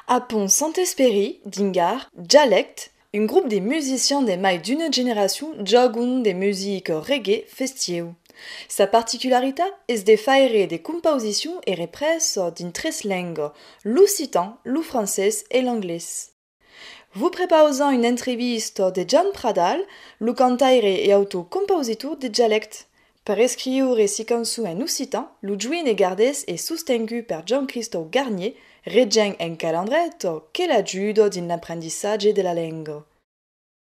A Pont Santesperi, Dingar, Jalèct, un grup de musicians de mai d'una generacion jògon de musica reggae festieu. Sa particularitat es de faire de compausicions e reprèses dins tres lengas, l'occitan, lo francés e l'anglés. Vos prepausam una entrevista de Jan Pradal, lo cantaire e autor compausitor de Dialèct. Per escriure si cançon en occitan, lo join e gardés e sostengut per Jan Cristau Garnier, regent en Calandreta, que l'ajuda dins l'emprendissatge de la lenga.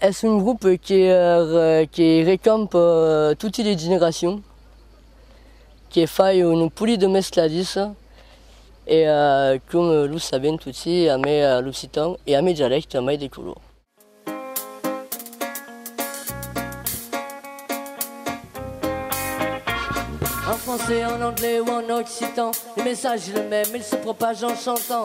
Es un grup que recamp toti de generacion, que fai un poli de mescladis e com lo sabem toti amé l'occitan e amé dialècte mai de color. En français, en anglais ou en occitan, le message est le même, il se propage en chantant.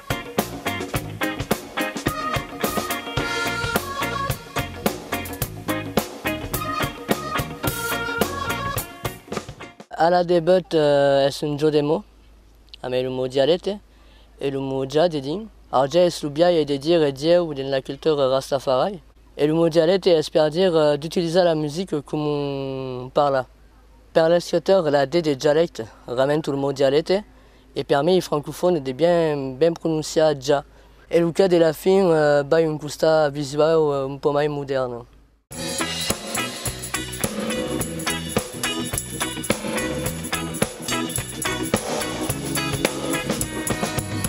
Ala de but es un jo de mo, amé lo mo dialete e lo mo ja dedin. Arja es lo biaie de dire Dieu dins la cultura Rastafari e lo mo dialete es per dire d'utilizar la music coma un parla. Per l'escritor la de de dialecte, ramentu lo mo dialete E per mei francofòne de bien ben prononciar ja. E lo cas de la fin bai un costat visuau un pò mai modèrn.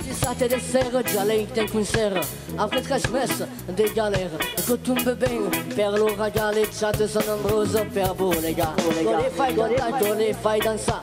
Dissabte de sèra jalèic d'un concèrt après tres mes de galèra que tombe ben per lo raga les chats son nombroses per bolegar. Go les fai cantar, go les fai dansar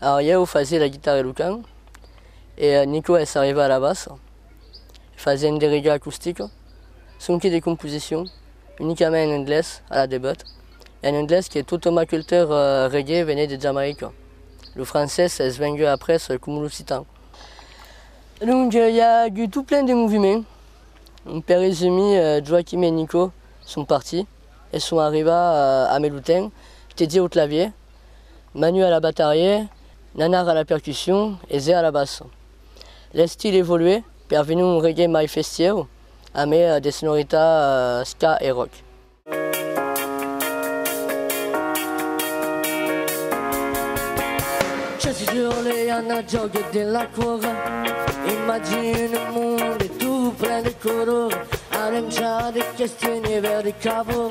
Aòr ieu fasié la guitarra e lo can, e Nico es arrivat a la bassa, fasiènt de riga acustica, sonque de composicion unicament en anglés a la debut, en anglés que totòm a cultura reggae venèt de Jamaica, lo francés es vengut après coma l'occitan. Donc i a agut tot plen de moviment, per resumir Joachim e Nico son partit e son arrivat a Melotin, tedie au clavier, Manu a la batarriè, Nanar a la percussion e Zé a la bassa. L'estil evoluè per venir un reggae mai festièu amé de sonoritat ska e rock. Chassi sur le yana jògue de la quora Imagine un monde tout plein de color Arencha de questionne verd e cavor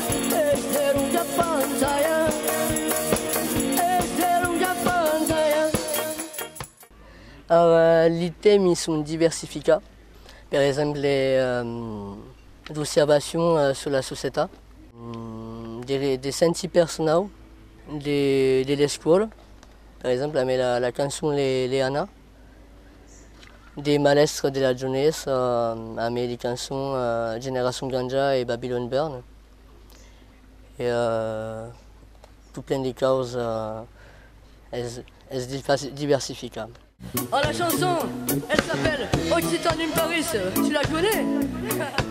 Li tèmi son diversificats, per exemple, d'observacion sus la societat, de sentir personau de l'escòla, per exemple, la cançon Leana. De malèstre de la jonhesa a mai li cançon Generacion Ganja e Babylon Bern. E tot plen de caus es diversificar. A la chanson, elle s'appelle Occitane in Paris, tu la connais?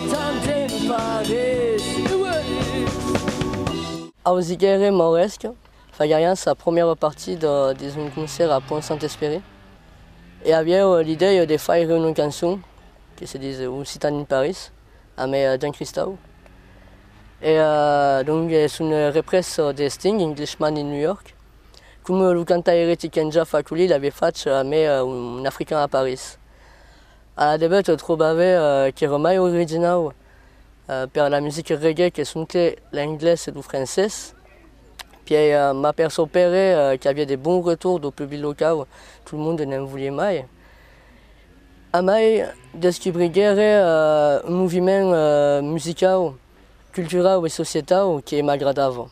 Tant te'n parés, uèlhs! Ausiguèrem Mauresc fagarián sa promièra partida dins un concèrt a Pont Saint-Espèri e avièu l'idèia de faire una cançon que se dis Un citan in Paris amé Jean Christau e donc es una represa de Sting Englishman in New York com lo cantaire Tiken Jah Fakoly l'avè fach amé Un african a Paris. A la debut trobave qu'èra mai originau per la musica reggae que sonque l'englés e lo francés, pièi m'a per sorpere qu'aviá de bons retours dau public locau, tot monde n'en voliá mai. Amai descubriguère un moviment musicau, culturau e societau que m'agradava.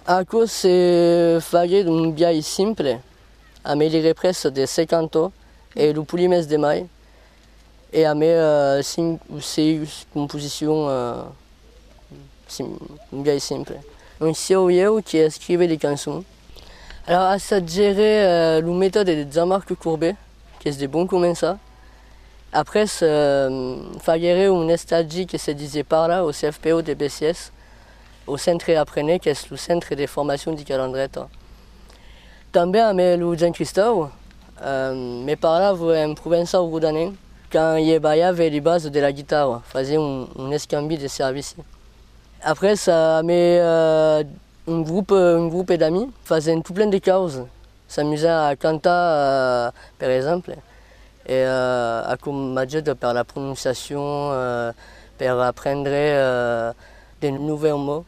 Aquò se faguèt un biais simple, a me li reprèssa de se cantò e lo polimès de mai e a me cinc o seis composicion biais simple. Non sieu ieu qui escrive li cançon, alors assatgere lo metòde de Jean-Marc Courbet qu'es de bon començar, après faguere un estagi que se disié Parla au CFPO de Besiès, Lo Centre Aprenez qu'es lo centre de formacion de Calandreta. Tanben amé lo Jean Cristau me parlava en provençau rodanenc quand ie balhave li bas de la guitarra, fasié un escambi de servici. Après amé un groupe d'amis fasent tout plen de causes S'amusar a cantar, per exemple, e a com m'ajut per la prononciacion, per aprendre de novèus mots.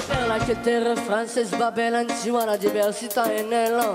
Per la que terre francés va ben en ciuana diversitat en elan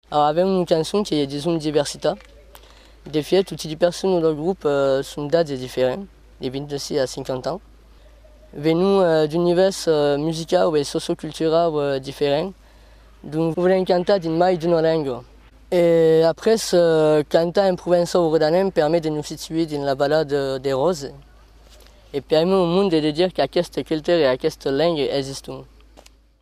Avèm una cançon que i a dison diversita. De fièch, toti li personnes del grop son d'atge diferent, de 26 a 50 ans. Venon d'univèrs musicau e socioculturau diferent, donc volèm cantar dins mai d'una lenga. E après, cantar en provençau o rodanenc permet de nos situer dins la Vala de Ròse e permet au monde de dire qu'aqueste culture e aquesta lenga existon.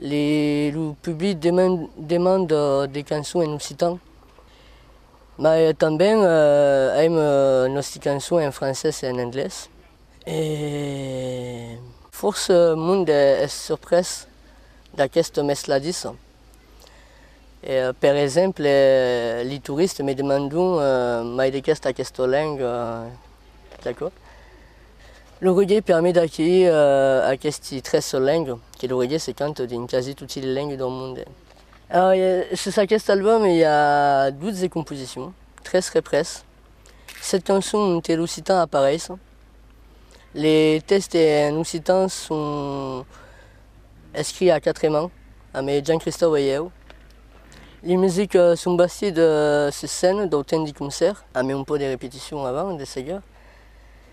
Le, lo public deman, demanda de cançons en occitan, mas eh, tanben eh, aim eh, nòsti cançons en francés e en anglés. Eh. Fòrça mond eh, es surprés d'aquesta mescladissa. Eh, per exemple, eh, li touristes me demandon eh, mai de qu'est aquesta lenga, eh, d'acò. L'oreguer permet d'acquerir aqueste tres sol lengue, que l'oreguer se canta dins quasi toti le lengue dau monde. Sus aqueste album i a 12 composicions, tres repres, set cançons onte l'occitan apareis. Le tèxte en occitan son escrits a quatre mans, amé Jean Christau e ieu. Le music son bastits sus scène dau temps de concèrt, amé un pò de repetition avant de seguir.